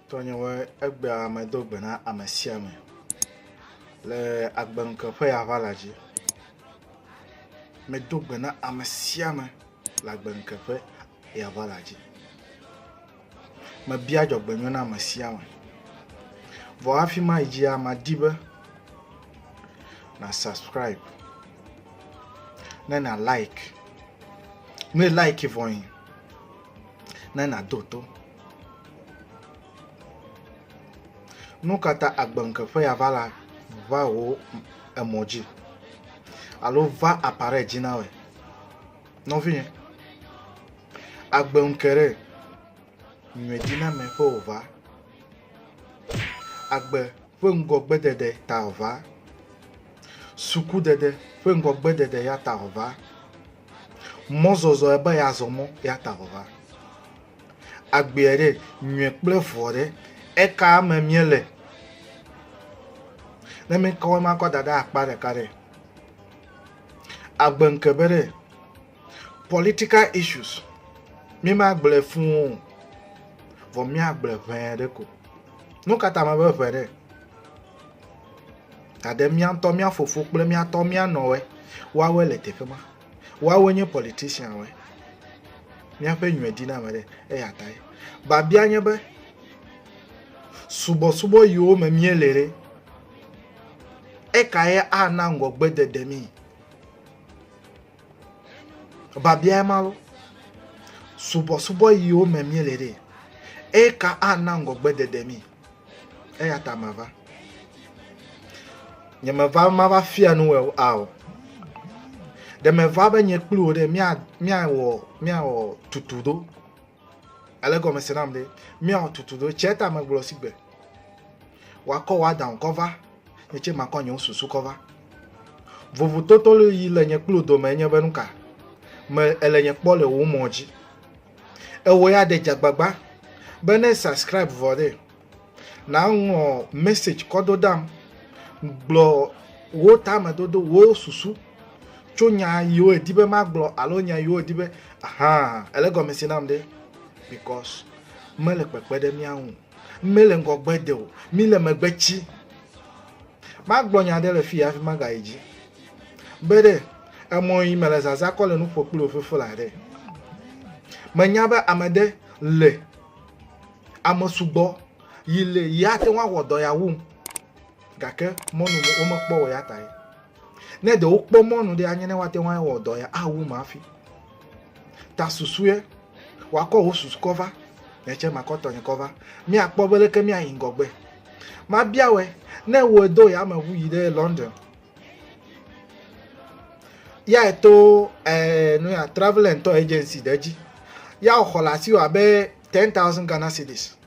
Tɔnyewoe, egbea medo gbe na ame sia ame le agbenuke ƒe aʋala dzi. Medo gbe na ame sia ame le agbenuke ƒe aʋala dzi. Mebia dzɔgbenyɔ na ame sia ame. Vɔ hafi ma yi dzia, madi be na subscribe ne na like. Ne like vɔ yi. ne nàdo to. Nu ka ta agbeŋkeƒe ya va la va wò emɔ dzi alo va apare dzi na wòe? Nɔvinye, agbeŋke ɖe nyuie dzi na me ƒe wòva. Agbe ƒe ŋgɔgbedede ta wòva. Sukudede ƒe ŋgɔgbedede ya ta wòva. Mɔzɔzɔ ebe yeazɔ mɔ yeata vɔva. Agbeɛ ɖe, nyuiɛ kple vɔ ɖe, eka me míele? Ne míkɔ ema kɔ da ɖe akpa ɖeka ɖe, agbe ŋke be ɖe political issues mímagblɔe fũ o, vɔ míagblɔe ʋɛɛ ɖe ko. Nu ka ta mebe ʋɛ ɖe? Gake mía ŋutɔ mía fofo kple mía tɔ mía nɔwoe woawoe le teƒe ma. Woawoe nye politicianwoe. Míaƒe nyume di na ame ɖe eya tae. Babia nye be subɔsubɔ yiwo me míele ɖe eka ye ana ŋgɔgbe dede mí. Babia ye ma lo. Subɔsubɔ yiwo me míele ɖe eka ana ŋgɔgbe dede mí. Eya ta mava. Nye meva mava fia nu wɔ ao. Ɖe meva be nye kpli wò ɖe mía míawɔ míawɔ tutu do. Ale gɔme se nam ɖe míawɔ tutu do. Tse ta megblɔ si gbe. Wakɔ wa dan kɔ va. Nye tse makɔ nye susu kɔ va. Vovototo yi le nye kpli dome nye be nuka. Me ele nye kpɔ le wo mɔ dzi. ewɔ ya ɖe dzagbagba be ne subscribe vɔ ɖe na ŋɔ message kɔ do dam gblɔ wo tame dodo wo susu tso nya yiwo edi be ma gblɔ alo nya yiwo edi be aha ele gɔmesi nam ɖe because mele kpekpe ɖe mia ŋu Mele ŋgɔgbe de o, mi le megbe tsi. Magblɔ nya ɖe le fi ya fi magayi dzi. Be ɖe emɔ yi mele zaza kɔ le nuƒo kpli ofefo la ɖe. Menya be ame ɖe le ame sugbɔ yi le ya te ŋu awɔ dɔ ya wum gake mɔnu womekpɔ o ya tae. ne ɖe wokpɔ mɔnu ɖe anye ne woate ŋu awɔ dɔ ya awu ma hafi ta susue wakɔ wò susu kɔ va netsɛ makɔ tɔnye kɔ va míakpɔ be leke míayi ŋgɔgbe mabiawɔe ne wòe do yameʋu yi ɖe london ya eto eh, nu ya travel and tour agency ɖe dzi ya xɔ le asi wɔ abe ten thousand ghana cedis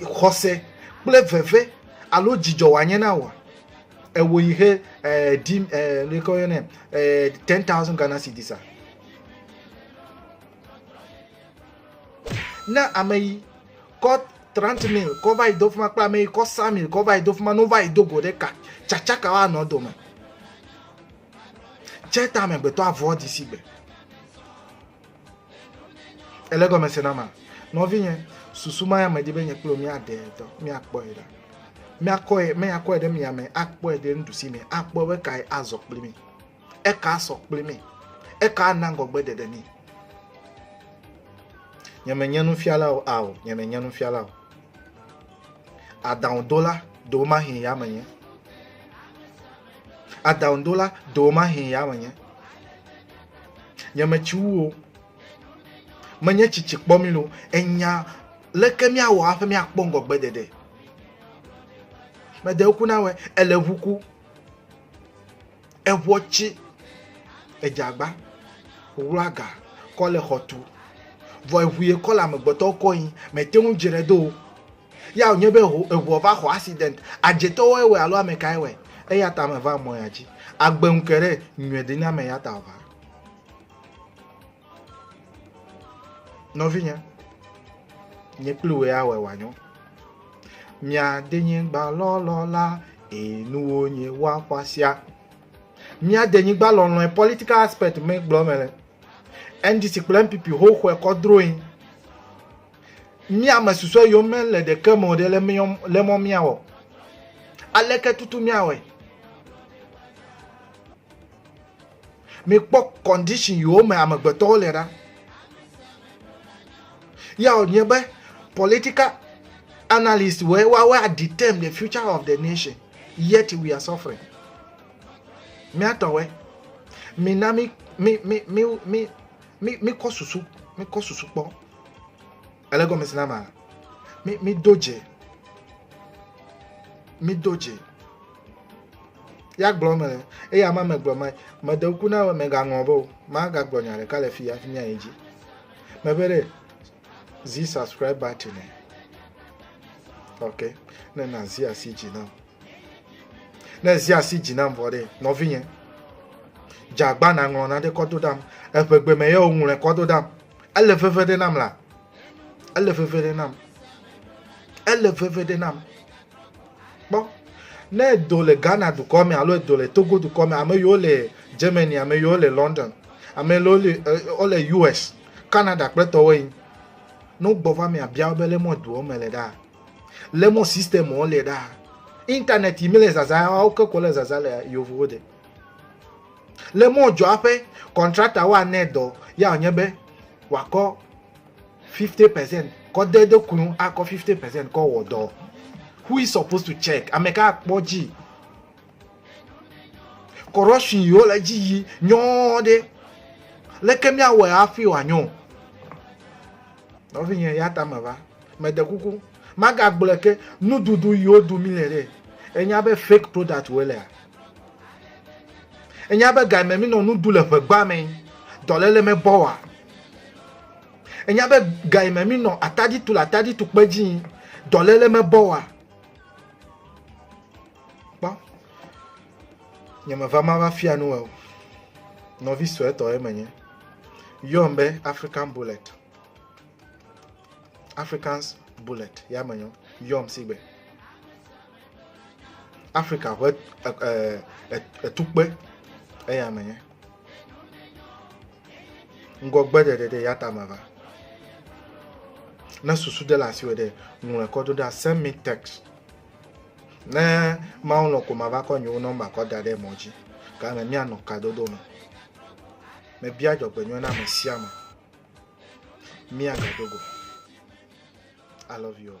xɔse kple veve alo dzidzɔ wòanye na wòa? Ewò yi he eh, di eh, neke woyɔnɛ eh, ten thousand Ghana cedis a? Na ame yi kɔ trente mille kɔ va yi do fima kple ame yi kɔ cent mille kɔ va yi do fima no va yi do go ɖe ka tsatsaka woanɔ dome. Tse ta amegbetɔ avɔ disi gbe. Ele gɔme se na ma. Nɔvinye, susu ma ya medi be nye kple míaɖe dɔ, míakpɔe ɖa. Míakɔe, míakɔe ɖe mia me, akpɔe ɖe nuɖusi me, akpɔ be kae azɔ kpli mi. Eka asɔ kpli mi. Eka ana ŋgɔgbe ɖeɖe mi. Nye menye nufiala o, ao, nye menye nufiala o. Aɖaŋudola ɖewo ma hin ya menye. Aɖaŋudola ɖewo ma hin ya menye. Nyemeti wu o. Menye tsitsi kpɔ mi lo. Enya leke míawɔ hafi míakpɔ ŋgɔgbe ɖeɖe. Mede ŋku na wɔ ele ŋu ku. Eŋua tsi edzagba wlua ga kɔ le xɔtu. Vɔ eŋu ye kɔ le amegbetɔwo kɔ yin mete ŋu dzre do o. Ya wònye be ʋu, eʋua va xɔ accident. Adzetɔwoe wɔe alo ame kae wɔe? Eya ta meva mɔ ya dzi. Agbe ŋu ke ɖe, nyɔe denye ame ya ta ʋua. Nɔvinye, nye kple wòe awɔe wòanyo. Mia denye gba lɔlɔ la, ee nuwo nye wa xɔasia. Mia denye gba lɔlɔe political aspect me gblɔ me le. NDC kple NPP ho xɔe kɔdroe. Mía ame susɔe yom mele ɖeke me o ɖe le mɔ míawɔ. Aleke tutu míawɔe? Mikpɔ condition yiwo me amegbetɔwo le ɖa. Ya wònye be political analyst wɔ woawo adeterm the future of the nation yet we are suffering. Míatɔwɔe. Mina mi mi mi mi mi mi mi kɔ susu mi kɔ susu kpɔ ele gɔme si na ma mi mi do dze mi do dze ya gblɔ me eye ama me gblɔ me me de ku na me ga ŋlɔ be o ma ga gblɔ nya ɖeka le fi ya fi mi ayi dzi me be ɖe zi subscribe button ne ok ne na zi asi dzi na o. ne zi asi dzi nam vɔ ɖe nɔvinye dzagba naŋlɔ na ɖe kɔ do ɖam eƒegbe me ye woŋlɔe kɔ do ɖam ele veve ɖe nam la ele veve ɖe nam ele veve ɖe nam kpɔ ne edo le ghana dukɔ me alo edo le togo dukɔ me ame yiwo le germany ame yiwo le london ame yiwo le wo le us canada kple tɔwo yi ne wogbɔ va mea bia wo be le mɔ doɔ me le ɖaa le mo system o le da internet mi le zaza o ke ko le zaza le yovo de le mo jo ape contractor wa ne do ya onye be wa ko 50% ko de de kunu a ko 50% ko wo do who is supposed to check ameka kpo ji corruption yo le ji yi nyo de le ke mi awe afi wa nyo no vi nye ya ta me va Mede kuku, magagblɔe ke, nuɖuɖu yi woɖu mi le ɖe. Enya be fake product wo lea? Enya be ga me mi nɔ nu ɖu le ʋegba me dɔlele me bɔ wa? Enya be ga me mi nɔ atadi tu le atadi tu kpe dzi dɔlele me bɔ wa? Kpɔ. Nye me va ma va fia nu o. Nɔvi sɔe tɔ ye menye. Yɔm be African Bullet. Africans Bullet ya me nyɔ yɔm si gbe Africa ƒe etukpe eya me nye ŋgɔgbe ɖeɖe ɖe ya tame va ne susu ɖe le asi wɔ ɖe ŋlɔe kɔ do ɖa send me text ne mawu lɔ ko ma va kɔ nyewo nɔmba kɔ da ɖe mɔ dzi gake mianɔ kadodo me mebia dzɔgbenyuie na ame sia ame Mia Gadogo. I love you all.